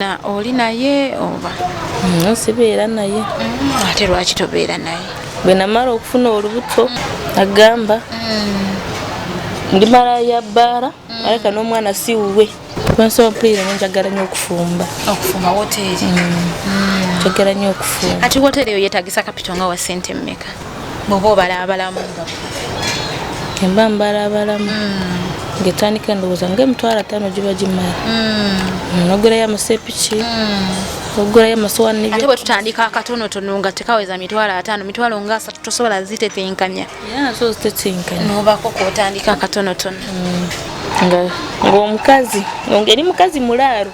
Na oli naye oba? Mm, sibeera naye. Mm, ate lwaki tobeera naye? Bwe namala okufuna olubuto mm. agamba mm. ndi mala ya bbaala mm. aleka n'omwana si wuwe. Lwensobola mpulira nyo njagala nyo okufumba. Okufumba woteeri? Mm. Mm. Njagala nyo okufumba. Ati woteeri eyo yeetagisa kapito nga wa ssente mmeka? bwoba obalabalamu nga emba mbalabalamu hmm. ngetandika endowooza nga emitwalo ataano giba gimala hmm. nogulayo amasepiki hmm. ogulayo amasowaniate bwe tutandika akatonotono nga tekaweza mitwalo ataano mitwalo nga asatu tosobola zitetenkanya so zitetenkanya nobako kotandika akatonotono ngaomukazi eri mukazi mulaalo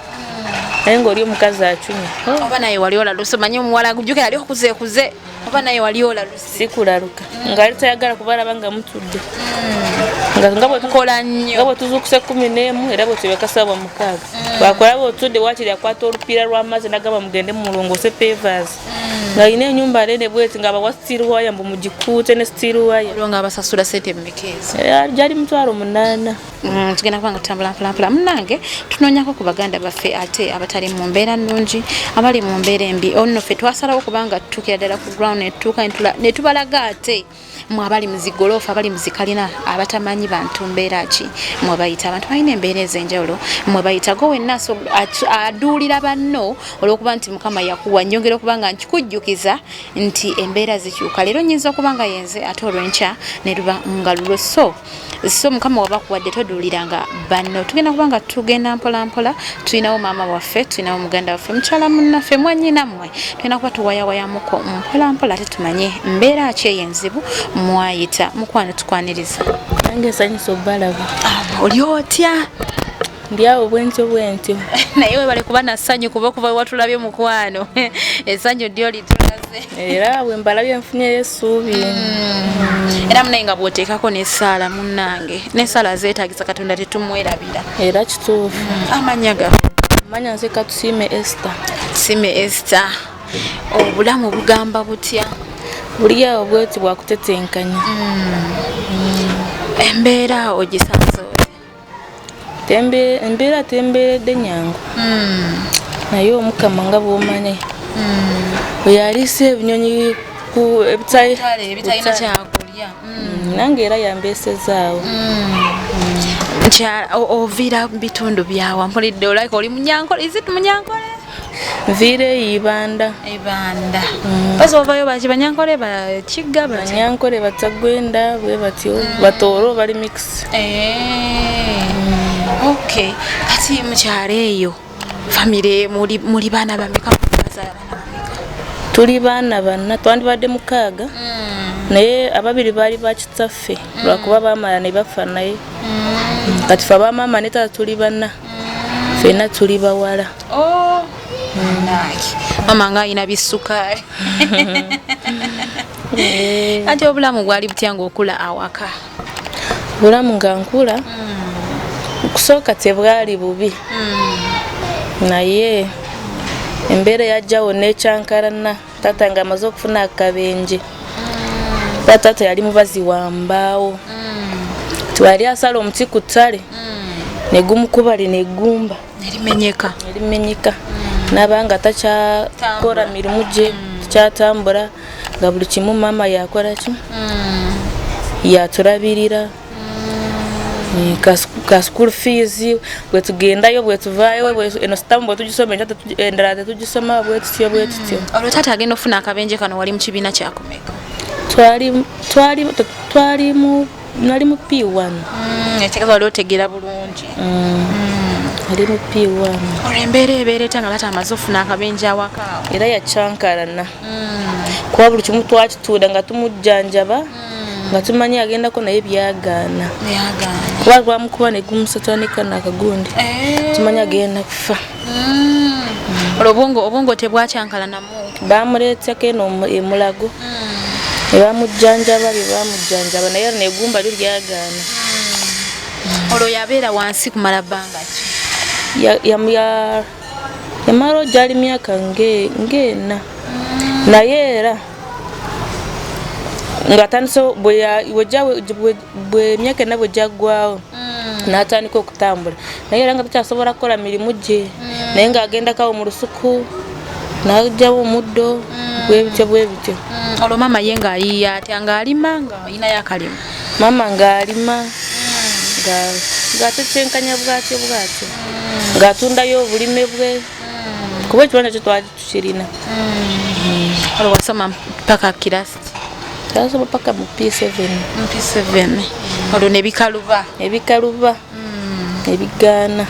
naye ngaoli omukazi acunya oba naye wali olalusomanyi omuwala jukira ali okuze kuze oba naye wali olaluse sikulaluka mm. ngaali tayagala kuba alaba nga mutudde mm. nga bwetukola nnyo nga bwetuzuukusa ekkumi n'emu era bwetubekasabwa mukaaga mm. wakola bwetudde wakiri akwata olupiira lw'amazzi nagamba mugende mulongoose pevas mm. nga alina enyumba nene bweti nga abawa steel waya mbu mugikuute ne steel waya olwo nga abasasula sente mumekeezi eh, gyali mutwalo munaana Mm, tugenda kubanga tutambula mpolampola munange tunoonyako ku baganda baffe ate abatali mu mbeera nnungi abali mu mbeera embi onno ffe twasalawo kubanga tutuukira ddala ku ground netutuuka ne tubalaga ate mwe abali mu zigoloofa abali mu zikalina abatamanyi bantu mbeera ki mwe bayita abantu balina embeera ez'enjawulo mwe bayita go wenna aduulira banno olw'okuba nti mukama yakuwa nyongera okuba nga nkikujjukiza nti embeera zikyuka leero nyinza okuba nga yenze ate olwenkya ne luba nga lulo so so mukama wabakuwadde toduuliranga banno tugenda kuba nga tugenda mpolampola tulinawo maama waffe tulinawo muganda waffe mukyala munnaffe mwanyina mmwe tugenda kuba tuwayawayamuko mpolampola ate tumanye mbeera ki eyo enzibu mwayita mukwano tukwaniriza nange esanyusa obalaba ah, oli otya ndyawo bwentyo bwentyo naye webale kuba na ssanyu kuba okuva wewatulabye mukwano essanyu ddyo litulaze era bwe mbalabye nfunyeyo essuubi mm. era munaye nga bwoteekako nesaala munnange nesaala zeetagisa katonda tetumwerabira era kituufu mm. amanya ga manya nze katusiime este tusiime este obulamu bugamba butya buliyawo bweti bwakutetenkanya mm. embeera ogisanze embeera tembeeredde nyangu hmm. naye omukama nga bwomanyi hmm. oyo aliisa ebinyonyi ku ebitalina kyakulya hmm. nange era yambeesezaawo mukyala oviira mu bitundu byawa mpulidde olabika oli munyankole izit munyankole Vire ibanda. Ibanda. Mm. Basi wavayo bachi banyankole bachiga bachi. Banyankole batagwenda bwe batyo mm. batoro bali mix. Eh. Mm. Okay. Kati muchare eyo. Family muri muri bana bameka baza bana. Tuli bana bana twandi bade mukaga. Mm. Naye ababiri bali bakitaffe mm. lwakuba bamala ne bafanaye. Mm. Kati fa bamama ne tata tuli bana. fena tuli bawala oh, mama nga alina bisukaali eh. anti obulamu bwali butya ngaokula awaka obulamu nga nkula hmm. okusooka tebwali bubi hmm. naye embeera yajjawo nekyankalana taata nga amaze okufuna akabenje kuba taata yali mubazi wa mbaawo twali asala omuti ku ttale negumukubali negumba erimenyeka erimenyeka nabanga takyakora mirimu gye tukyatambula nga buli kimu maama yakoraki yaturabirira Eh, ka school fees bwetugendayo bwetuvayo eno sitamu bwetugisoma endala tetugisoma bwetutyo bwetutyo mm. olwo taata agenda okufuna akabenje kano wali mukibiina kyakumeka twalimu nali mu p1 mm, ekitegeeza wali otegera bulungi mm. ali mu p1 olwo embeera ebeera etya nga taata amaze ofuna akabenje awakaawo era yakyankalana kuba buli kimu twakituuda nga tumujjanjaba nga tumanyi agendako naye byagaana kuba lwamukuba negumusotanika nakagundi eh. tumanyi agenda kufa hmm. olwo obwongo obwongo tebwakyankala namu bamuleeteko eno emulago hmm. ebamujjanjaba byebamujjanjaba naye lino egumba lyo lyagaana hmm. olwo yabeera wansi kumala bbanga ki yamala ogyali myaka ng'ena naye era nga atandise bwemyaka ena bwe gyaggwawo mm. n'atandika okutambula naye era nga takyasobola kukola mirimu gye mm. naye ng'agenda kawo mu lusuku n'ajjawo omuddo mm. bwebityo bwebityo olwo maama ye ng'ayiiya atya ng'alima ng'ayinayo akalima maama ng'alima ng'atekyenkanya bwatyo bwatyo ng'atundayo obulime bwe kuba ekibanza kyo twali tukirina olwo mm. wasoma mpaka kirasi twasoma paka mu p7 mu p7 olwo nebikaluba ebikaluba mm. ebigaana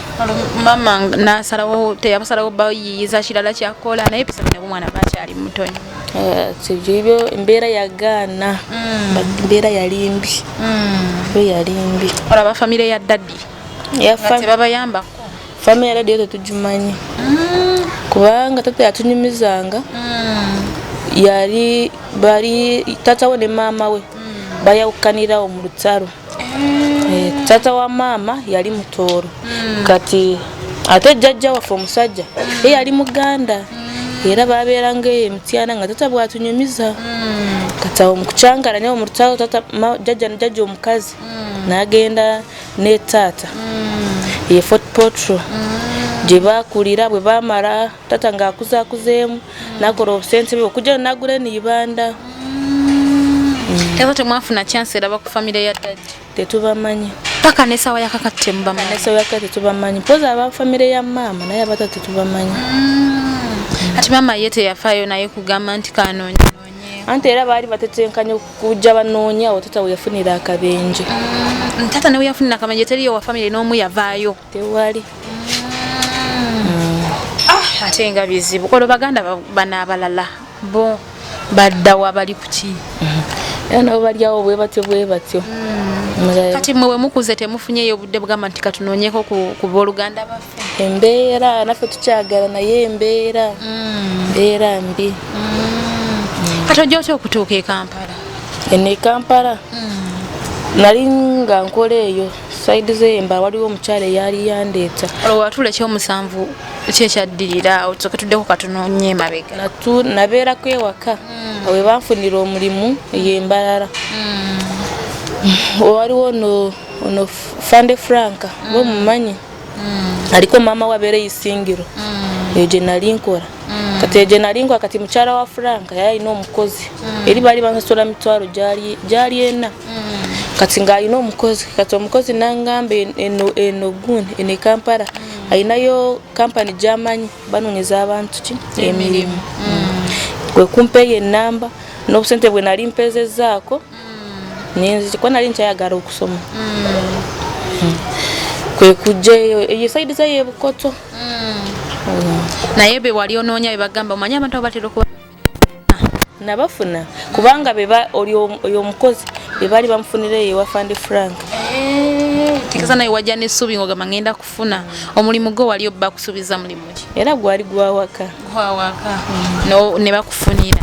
mama nasalawo teyabasalawo bayiyiza kirala kyakola naye p7 nabwo mwana bakyali mutonyi eh, sibyo embeera yagaana mm. embeera yali mbi mm. yo yali mbi olaba famire ya daddy yafa tebabayambako Fama ya radio tetugimanyi mm. kubanga tata yatunyumizanga mm. yali bali tata we ne maama we mm. bayawukanirawo mu lutalo mm. e, tata wa maama yali mutooro mm. kati ate jjajja waffe omusajja mm. ye yali muganda mm. era babeeranga eyo emityana nga tata bwatunyumiza hmm. kati awo mukucangala naye omurutalo tata jajja nijajja omukazi hmm. nagenda ne taata mm. ye fort potro mm. gye bakulira bwe bamala taata ng'akuzakuzeemu mm. nakola obusente bwe okujja nagula eniyibanda era temwafuna kyansi eraba ku famire ya dadi tetubamanyi paka nesawa yakakatemubamanyinesawaakatetubamanyi poza aba famire ya maama naye abata tetubamanyi ati maama ye teyafayo naye kugamba nti kanonya anti era baali batetenkanya okujja banoonya awo tata weyafunira akabenje mm, tata ne weyafunira akabenje teriyo wa famire n'omu yavaayo tewali mm. ah, ate nga bizibu olwo baganda bana abalala bo baddawa bali kuki mm-hmm. era nabo balyawo bwe batyo bwe batyo mm. kati mwe wemukuze temufunyeyo obudde bugamba nti katunoonyeko ku booluganda bafe embeera naffe tukyagala naye embeera mm. mbeera mbi mm. kati ojja otya okutuuka e kampala eno e kampala mm. nali nga nkola eyo saidi zemba waliwo omukyalo eyali yandeeta olwatula ekyomusanvu kyekyaddirira awo tusoke tuddeko katunonye emabega nabeerako ewaka awe banfunira omulimu eyembalala waliwo no ono fande franka bomumanyi mm. mm. aliko mama wabere isingiro mm. eje nali nkora mm. kati eje nali nkora kati muchara wa franka yali no mukozi mm. eri bali bansasula mitwaro jali jali ena mm. kati nga alina omukozi kati omukozi nangamba eno eno gun ene kampala mm. alinayo kampani gyamanyi banonyeza abantu ki emirimu mm. kwekumpeeyo enamba n'obusente bwe nali mpezezaako ninzi kuba nali nkyayagala okusoma hmm. kwe kujja eyo eyo saidi zayo ebukoto hmm. hmm. naye be wali onoonya bebagamba omanye abantu abo batera okuba nabafuna kubanga beba oyo omukozi bebali bamufunira eyo ewafandi frank eh, tikasa naye wajja nesuubi ngogamba ngenda kufuna omulimu gwo wali obba kusuubiza mulimu ki era gwali gwawaka gwawaka ne bakufunira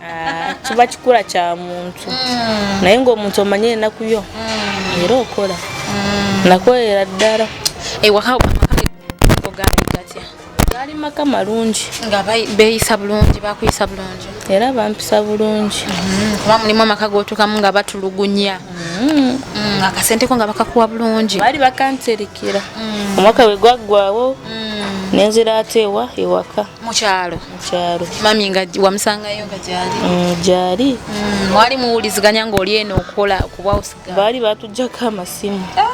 Ah, kiba kikula kya muntu mm. naye ngaomuntu omanye enaku yo mm. era okola mm. nakolera ddala gaali maka malungi nga beyisa bulungi bakuyisa bulungi era bampisa bulungi mm-hmm. kuba mulimu amaka gotukamu nga batulugunya mm-hmm. akasente ko nga bakakuwa bulungi baali bakanterekera omwaka wegwaggwawo nenzira ateewa ewaka mukyalo kyalo mami nga wamusangayo nga gyali mm, gyali mm, mwali muwuliziganya ng'oli eno okukola okubawusiga baali batujjako amasimu ah!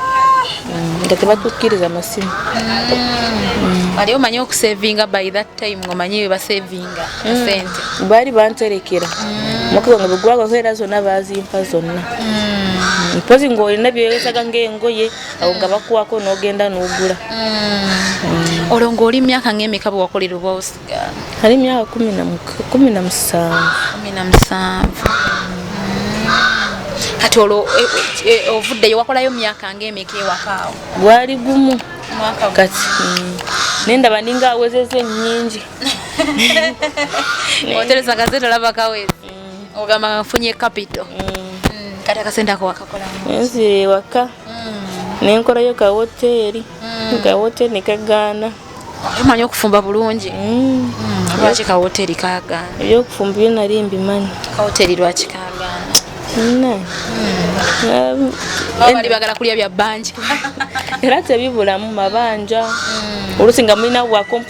mm, nga tebatukkiriza amasimu ali omanyi okusevinga by that time ngomanyi webasevinga sente baali banterekera mukuba nga bwegwabaho era zonna bazimpa zonna mpozi ng'olina byewesaga ng'engoye awo nga bakuwako n'ogenda n'ogula mm. olwo ng'oli myaka ng'emeka bwe wakolera oba osigala ali myaka kumi na musanvu kati olwo e, e, e, ovuddeyo wakolayo myaka ng'emeka ewakaawo gwali gumu kati mm. nendaba ninga awezeza ennyingi otereza gazete olaba kawezi ogamba nga nfunye kapito mm. mm, kati akasente ako wakakolanzire ewaka mm. nenkolayo ka woteeri ka woteeri nekagaana omanyi okufumba bulungi lwaki ka woteeri kagaana ebyokufumba byo nali mbimanyi ka woteeri lwaki kagaana bali bagala kulya bya bangi era tebibulamu mabanja olusi nga mulina wakomp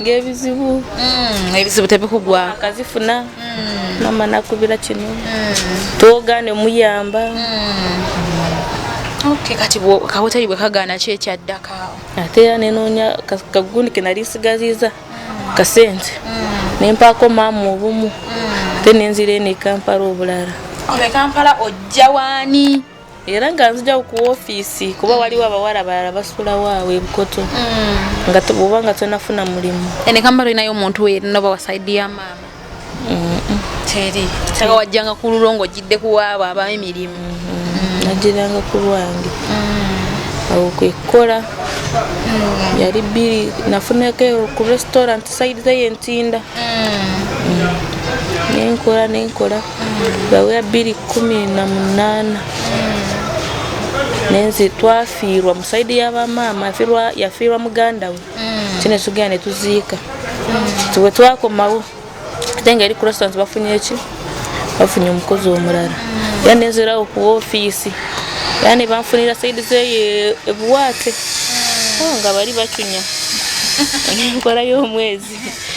ng'ebizibu mm, ebizibu tebikugwa akazifuna mm. mama nakubira kino mm. twogane muyamba kati kawoteri bwe kagaana ki ekyaddaka ate era nenoonya kagundi ke nali nsigaziza kasente nempaako maama obumu ate nenzira eno ekampala obulala ekampala ojja waani era nga nzija ku ofiisi kuba waliwo abawala balala basulawo awo ebukoto mm. nga oba nga tonafuna mulimu enekamba linayo omuntu wenoba wasaidi ya maama teri sanga wajjanga ku lulo ngaojjidde kuwaabo aba emirimu mm-hmm. najjiranga ku lwange mm. awo kwekukola mm. yali bbiri nafunako ku restaurant saidi zayo entinda mm. nenkola nenkola Bawe ya biri kumi na munana nenzi twafiirwa musaidi yabamaama yafiirwa muganda we mm. kine tugenda netuziika tiwe mm. twakomawo ate nga eri kurasans bafunye eki bafunye omukozi omulala mm. era nenzirawo ku ofiisi era nebanfunira saidi zeyo ebuwaate oh, nga bali bacunya nenkola y'omwezi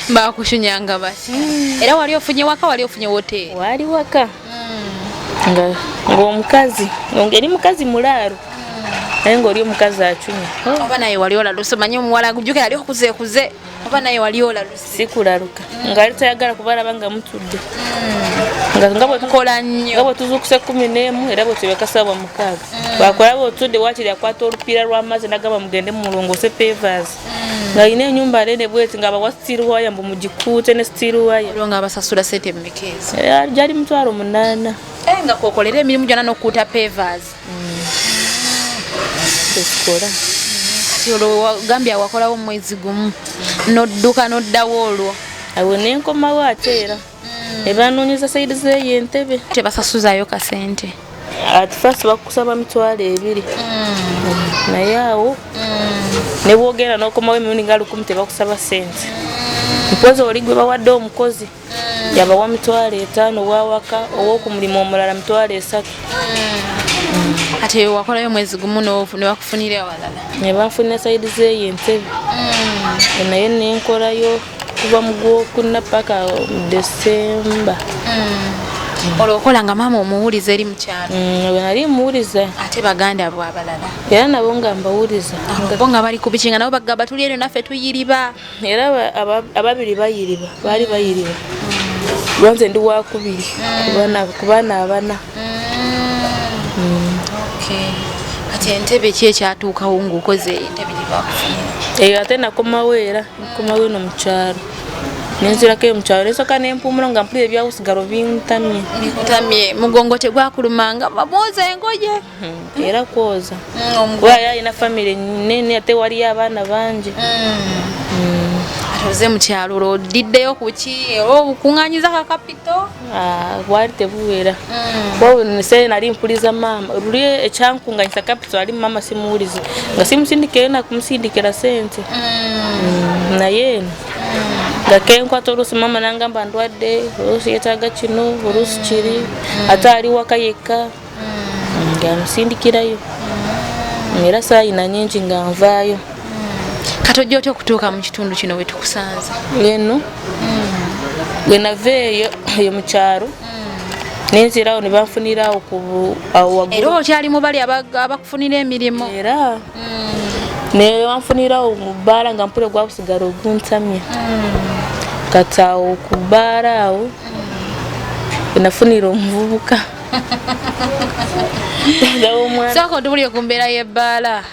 bakushunyanga basi mm. era wali ofunye waka wali ofunye woteeri wali waka mm. nga ng'omukazi ngeri mukazi mulaalo mm. naye ng'oli omukazi acunya oh. oba naye wali olaluse omanye omuwala gujukira ali okuzekuze oba naye wali olaluse sikulaluka mm. ngaali tayagala kuba alaba nga mutudde mm. nga bwetukola nnyo nga bwetuzuukusa ekkumi n'emu era bwetubekasabwa mukaaga mm. wakulaba otudde wakiri akwata olupiira lw'amazzi nagamba mugende mumulongoose pevasi nga alina enyumba nene bweti nga bawa steel wire mbu mugikuute ne steel wire olwo nga abasasula sente mmeka ezo eh, gyali mutwalo munaana eh, nga kokolera emirimu gyona nokukuuta pavers mm. ekikola kati olwo gambye awakolawo omwezi gumu nodduka noddawo olwo awo nenkomawo ate era ebanonyeza sayidi zeyo entebe tebasasuzayo kasente at first bakusaba mitwalo ebiri hmm. naye awo hmm. nebwogenda nokomawo emirundi nga lukumi tebakusaba sente mpozi oli gwe bawadde omukozi hmm. yabawa mitwalo etaano wawaka owokumulimu omulala mitwalo esatu ate wakolayo mwezi gumu nebakufunira ewalala nebanfunira sayidi zeyo entebe naye nenkolayo kuva mu gwokuna paka desemba mm. olwo okola nga maama omuwuliza eri mukyalo mm, nali muwuliza ate baganda bo abalala era nabo nga mbawuliza bo nga bali kubikinga nabo bagamba tuli eno naffe tuyiriba era ababiri bayiriba baali bayiriba mm. lwanze ndi wakubiri ku baana abana kati entebe ki ekyatuukawo ngaokoze entebe gyebakufunira eyo ate nakomawo era nkuma wino mu kyalo nenzirako eyo mu kyalo nesoka nempumula nga mpulira ebyakusigalo bintamye bitamye mugongo tegwakulumanga babooza engoye hmm, era kwoza hmm, kuba yalina famiry nene ate waliyo abaana bangi hmm. oze mukyalo olwo odiddeyo kuki oba obukuŋanyiza kakapito Ah, bwali tebuwera mm. nse nali mpuliza maama luli ekyankunganyisa capital ali maama simuwulize nga simusindikire nakumusindikira sente mm. mm, naye eno nga kenkwata oluusi maama nangamba ndwadde oluusi yetaaga kino oluusi kiri ate ali waka yekka nga musindikirayo era saayina nyingi nga nvaayo kati ojja otya okutuuka mu kitundu kino we tukusanze eno bwe nava eyo eyo mu kyalo nenzirawo ne banfunirawo era okyali mu bali abakufunira emirimu era mm. ne banfunirawo mu bbaala nga mpule gwakusigala oguntamya mm. kati awo ku bbaala awo mm. enafunira omuvubuka sooka otubulire ku mbeera y'ebbaala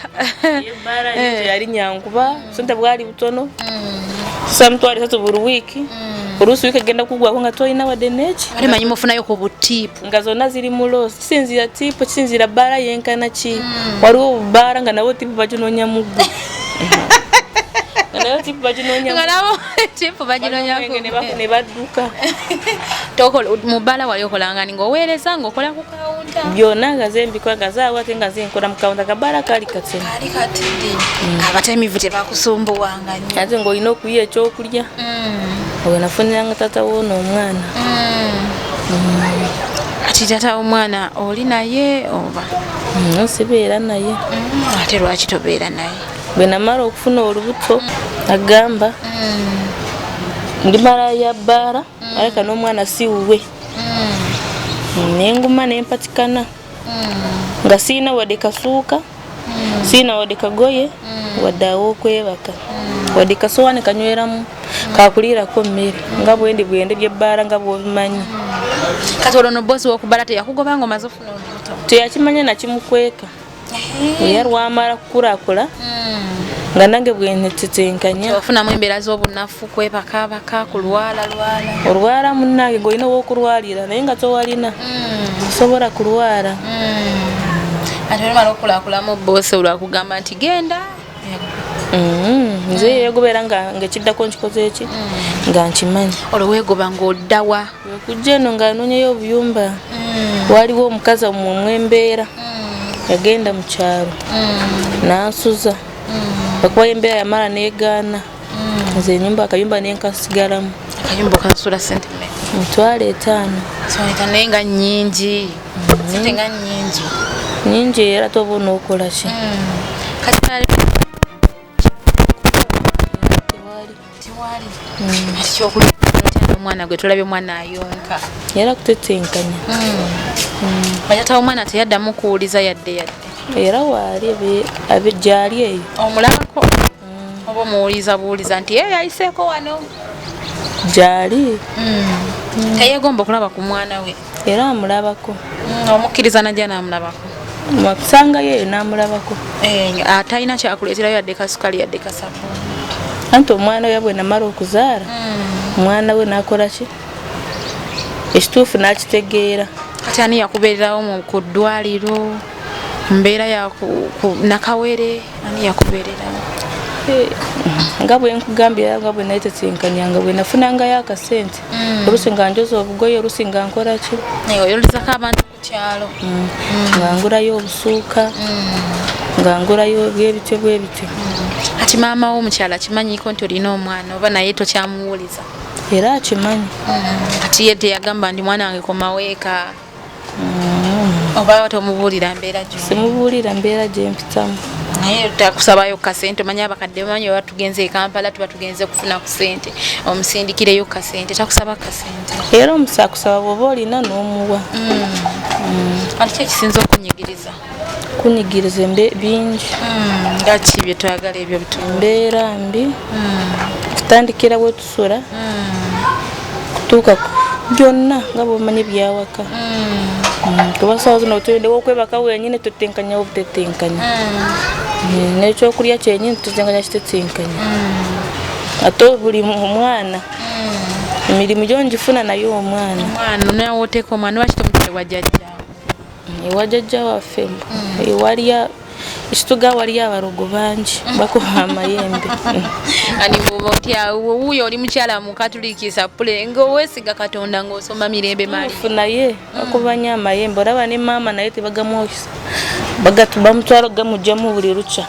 ebbaala eh. yali nyankuba sente bwali butono mm. sa mitwalo esatu buli wiiki mm. oluusi wiiki egenda kugwako nga tolina wadde neki ate manyi mufunayo ku butipu nga zonna ziri mu loosi kisinziira tipu kisinziira bbaala yenkana ki mm. waliwo obubbaala nga nabo tipu baginoonya muggu nga nabo tipu baginoonya chifu baginonyanebaduka mubala wali okolangani ngaoweereza ngaokola ku kawunta byona nga zembikwa nga zawake nga zenkola mu kawunta kabala kali katini mm. abatemivu tebakusumbuwanga nyo ate ngaolina okuya ekyokulya mm. oyo nafuniranga tata woona omwana mm. ati tata omwana oli naye oba sibeera naye ate lwaki tobeera naye bwe namala okufuna olubuto agamba mm. ndi mala ya bbaala mm. aleka n'omwana si wuwe mm. nenguma nempatikana nga sirina wadde kasuuka sirina wadde kagoye wadde awokwebaka wadde kasowaani kanyweramu kakuliirako mmere nga bwendi bwende byebbaala nga bwobimanyi kati olwo no bosi wokubbala teyakugoba nga omaze ofuna olubuto teyakimanya nakimukweka era lwamala kukulakula hmm. nga nange bwenetitenkanya ofunamu embeera z'obunafu kwebakabaka kulwala lwala olwala munange ngaolina wokulwalira naye nga towalina hmm. osobola kulwala hmm. ate olumala okukulakulamu bose olwakugamba nti genda Mm-hmm. nze yegubeera ngaekiddako nkikoze eki mm. nga nkimanyi olwo wegoba ngaoddawa wekujja eno nga anonyayo obuyumba mm. waliwo omukazi omumwe embeera mm. yagenda mu kyalo nansuza okuba embeera yamala negaana mm. nze enyumba akayumba nenkasigalamu akayumba okansula sente mitwalo etaano naye nga nyingi mm. sente nga nyingi nyingi era toba onokola ki omwana gwe tulabye omwana ayonka era kutetenkanya bajatawo omwana teyaddamu kuwuliza yadde yadde era waali gyali eyo omulabako mm. oba omuwuliza buwuliza nti ye yayiseeko wano gyali mm. teyegomba okulaba ku mwana we era amulabako mm, omukkiriza najja naamulabako wakusanga yeyo naamulabako eh, atalina kyakuleeterayo yadde kasukali yadde kasabu anti omwana we yabwe namala okuzaala omwana we nakola ki ekituufu nakitegeera kati ani yakubeererawo ku ddwaliro mbeera ya nakawere ani yakubeererawo eh, nga bwe nkugambira nga bwe nayetetenkanya nga bwe nafunangayo akasente mm. olusi nga njoza obugoye olusi nga nkolaki eh, oyolizako abantu ku kyalo mm. mm. nga ngulayo obusuuka nga ngulayo byebityo bwebityo ati maama wo omukyala kimanyiko nti olina omwana oba naye tokyamuwuliza era akimanyi ati ye teyagamba ndi mwana wange komaweeka mm. oba tomubuulira mbeera gyo simubuulira mbeera gyempitamu naye takusabayo kasente omanya abakadde bamanyi oba tugenze ekampala tuba tugenze kufuna ku sente omusindikireyo kasente takusaba kasente era omusakusaba bwoba olina n'omuwa mm. Mm. ati kyekisinza okunyigiriza kunyigiriza embe bingi hmm, nga ki byetwagala ebyo bitu mbeera mbi hmm. kutandikira wetusula hmm. kutuuka byonna nga bwomanyi byawaka kuba sawa zino tulindewo okwebaka wenyini tutenkanya obutetenkanya nekyokulya kyenyini tutenkanya kitetenkanya ate buli omwana emirimu gyo ngifuna naye omwana omwana nawe oteeka omwana wakitomuteebwa jajja ewa jajja waffe ewalya mm. ekituga waliyo abalogo bangi bakuba amayembe wuuyo oli mukyala mukatuliki sapule ngaowesiga katonda ngaosoma mirembe malifu naye akubanyo amayembe olaba ne maama naye tebagamwokisa bamutwala gamugjamu buli lukya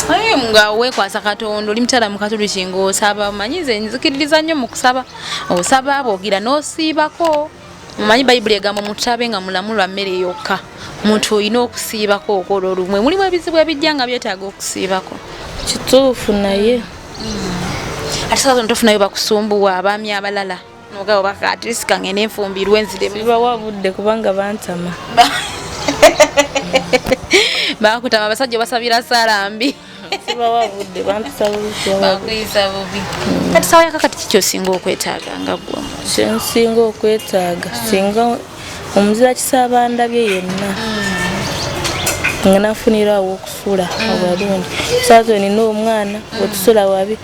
naye hmm. nga wekwasa katonda oli mukyala mukatuliki ngaosaba manyize nzikiririza nnyo mukusaba osaba bwogira nosiibako mumanyi bayibuli egamba omuntu abe nga mulamu lwa mmere yokka omuntu olina okusiibako okola olumwe mulimu ebizibu ebijja nga byetaaga okusiibako kituufu naye mm. ate saazona tofunayo bakusumbuwa abaami abalala nogabo bakatirisika ngende enfumbirwe nzirebawa budde kubanga bantama bakutama abasajja basabira sala mbi sibawa budde bampisa bubibakuyisa bubi kati sawa yaka kati kiki osinga okwetaaga nga gwa kyensinga okwetaaga mm. singa omuzira kisaba ndabye yenna mm. nga nafunira awo okusula mm. abalungi saazo nina omwana otusula wabi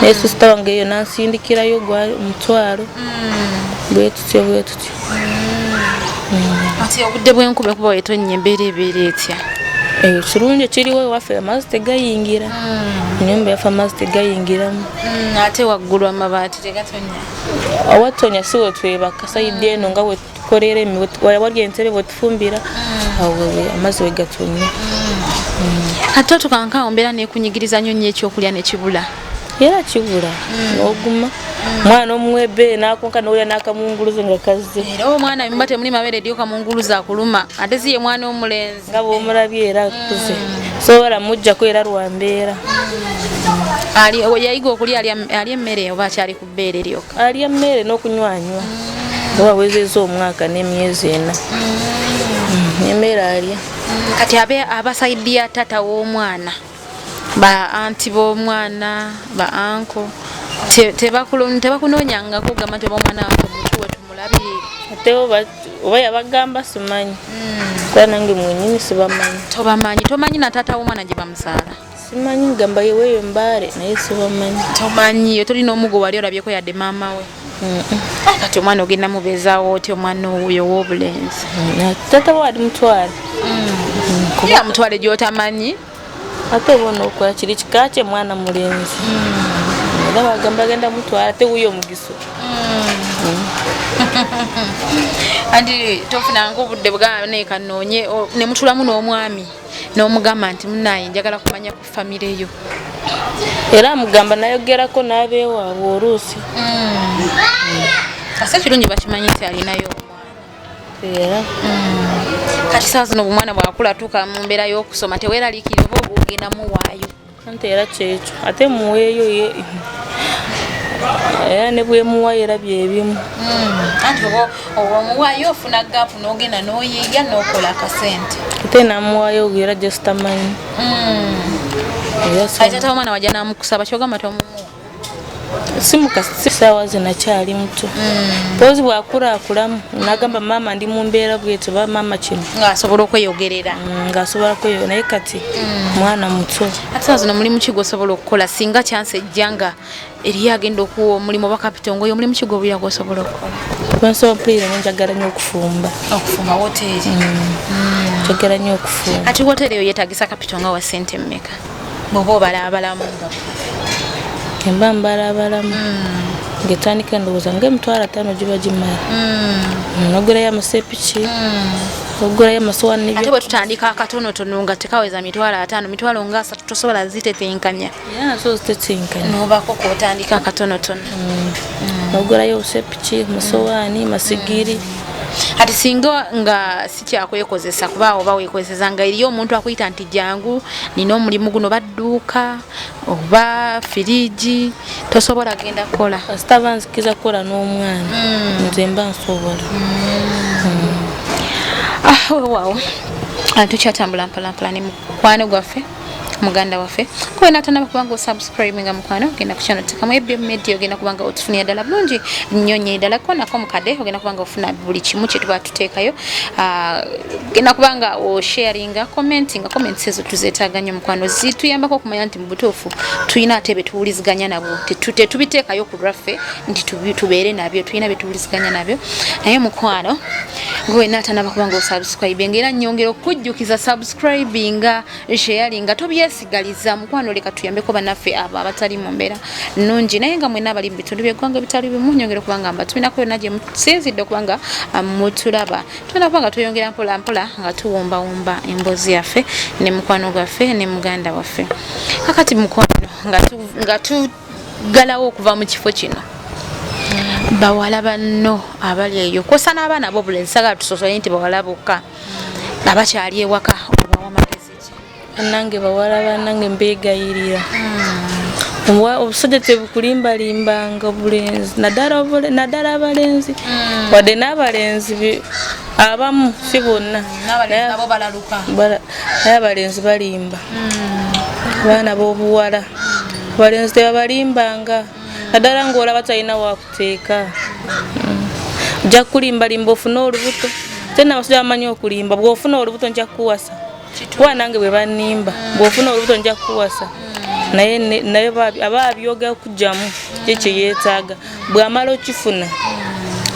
naye sisita wange eyo nansindikirayo gwa omutwalo mm. bwetutyo bwetutyo mm. mm. ati obudde bwenkuba kuba wetonnya embeera ebeera etya eyo eh, kirungi ekiriwo ewaffe amazzi tegayingira enyumba yaffe amazzi tegayingiramu ate waggulu amabaati tegatonnya awatonya si wetwebaka sayidde eno nga tukorera emiwe waya warya entebe botufumbira mm. awo wewe amazi wegatumye mm. ate tukanka ombera nekunyigiriza nyo nyo ekyokulya nekibula era kibula mm. noguma mwana omwebe nakonka nolya nakamunguluze nga kazze era omwana mimba temuli mabere dio kamunguluze akuluma ate siye mwana omulenzi nga bwomulabye era akuze sobola mujjako era lwambeera ali yayiga okulya ali emmere oba akyali bbeere lyokka alya mmere n'okunywanywa mm. oba awezeza omwaka n'emyezi ena mm. emmere alya mm, kati abe abasaidi ya taata w'omwana ba anti b'omwana ba anko tebakunoonyangako gamba nti oba omwana wange mutuwe tumulabire ate oba yabagamba simanyi kuba nange mwenyini sibamanyi tobamanyi tomanyi na taata w'omwana gye bamusaala simanyi gamba yeweyo mbare naye sibamanyi tomanyiyo toli nomugo wali olabyeko yadde maama we ah, kati omwana ogenda mubezawo oti omwana oyo wobulenzi mm, tata wali mutwale mm. ya mutwale gyotamanyi ate bona okola kiri kika kye mwana mulenzi mm. era bagamba agenda mutwala ate wuyo omugiso anti tofunanga obudde bwgamba nekanoonye nemutulamu n'omwami n'omugamba nti munaye njagala kumanya ku famire yo era amugamba nayogerako n'abeewaabwe oluusi kasa mm. ekirungi bakimanyi nti alinayo era mm. kati saa zino obumwana bwakula tuuka mu mbeera y'okusoma teweeraliikirira oba ogenda muwaayo Sente era kyekyo ate muweeyo ye era ne bwemuwayo era byebimu hmm, anti omuwayo ofuna gaapu n'ogenda n'oyiiya n'okola akasente ate namuwayo era jositamanyi hmm. ate omwana wajja namukusaba kyogamba tomumuwa simukasaawa zina kyali muto mm. pozi bwakulakulamu nagamba maama ndi mumbeera bwetyo ba maama kino ngaasobola okweyogerera mm, ngaasobola kweyo naye kati mm. mwana muto ate zino mulimu kigo osobola okukola singa kyansi ejja nga eriyo agenda okuwa omulimu oba kapitongoyo omulimu kigo obulira gwosobola okukola wensobola mpulira nenjagala nyo okufumba okufumba woteeri njagala nyo okufumba ati woteeri eyo yetagisa kapitonga wa sente mmeka bwoba obalabalamu nga emba mbalabalamu hmm. ngetandika endowooza nga emitwalo ataano giba gimala hmm. nogulayo amasepiki hmm. ogulayo amasowaniate bwe tutandika akatonotono nga tekaweza mitwalo ataano mitwalo nga asatu tosobola zitetenkanya so zitetenkanya nobako kotandika akatonotono nogulayo obusepiki masowaani masigiri ati singa nga sikyakwekozesa kuba oba wekozesa nga eriyo omuntu akuyita nti jangu nina omulimu guno badduuka oba firiji tosobola genda kukola sitaba nzikiza kukola n'omwana mm. nze mba nsobola mm. ah, wewawo antukyatambula mpalampala ne mukwano gwaffe muganda waffe kuba natanaba kubanga osubscribe nga mukwano ogenda kukyano tekamu ebm media ogenda kubanga otufunira ddala bulungi nnyo nnyo ddala kona ko mukade ogenda kubanga ofuna buli kimu kyetuba tuteekayo ah, ogenda kubanga osharinga commenti nga comments ezo tuzeetaaga nnyo mukwano zituyambako okumanya nti mu butuufu tulina ate betuwuliziganya nabo tetubiteekayo ku lwaffe nti tubeere nabyo tulina betuwuliziganya nabyo naye mukwano gwe natanaba kubanga osubscribe nga era nyongera okujjukiza subscribe subscribinga sharinga tobyesigaliza mukwano leka tuyambeko banaffe abo abatali mu mbeera nnungi naye nga mwena abali mu bitundu byeggwanga ebitali bimu nyongera okuba nga mba tulinako yonna gye musinzidde okuba nga ah, mutulaba tulina kuba nga tweyongera mpola mpola nga tuwumbawumba emboozi yaffe ne mukwano gwaffe ne muganda waffe kakati mukwano nga tugalawo okuva mu kifo kino bawala banno abali eyo kwosa n'abaana bo bulenzi sagala tusosole nti bawala bokka abakyali ewaka obawa magezi ki nange bawala banange mbegayirira hmm. obusajja tebukulimbalimbanga obulenzi naddala abalenzi hmm. wadde n'abalenzi abamu si bonna naye abalenzi balimba hmm. abaana b'obuwala abalenzi tebabalimbanga naddala ng'olaba talina waku teeka ojja kukulimbalimba ofune olubuto te nabasajja bamanyi okulimba bwofuna olubuto nja kukuwasa kuba nange bwe banimba bwofuna olubuto nja kukuwasa naye naye aba abyogera okugyamu kyekyo yeetaaga bwamala okifuna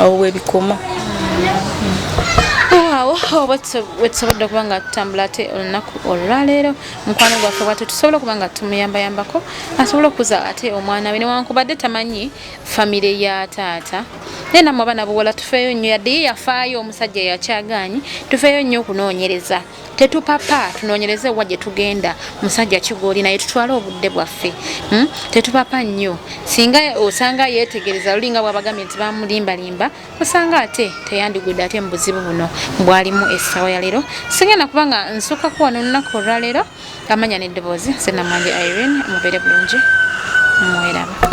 awo bwebikoma awo wetusobodde okuba nga tutambula ate olunaku olwaleero mukwano gwaffe bwatyo tusobola okuba nga tumuyambayambako asobole okuza ate omwana we newankubadde tamanyi famire ya taata naye namwe abaana buwala tufeeyo nnyo yadde ye yafaayo omusajja yakyagaanyi tufeeyo nnyo okunoonyereza tetupapa tunoonyereze wa gye tugenda musajja kigooli naye tutwale obudde bwaffe hmm? tetupapa nnyo singa osanga yeetegereza lulinga bwabagambye nti bamulimbalimba osanga ate teyandigudde ate mubuzibu buno bwalimu esawa yalero singenda kuba nga nsuka kuwa nolunaku olwalero amanya neddoboozi senamwanje irene mubere bulungi mweraba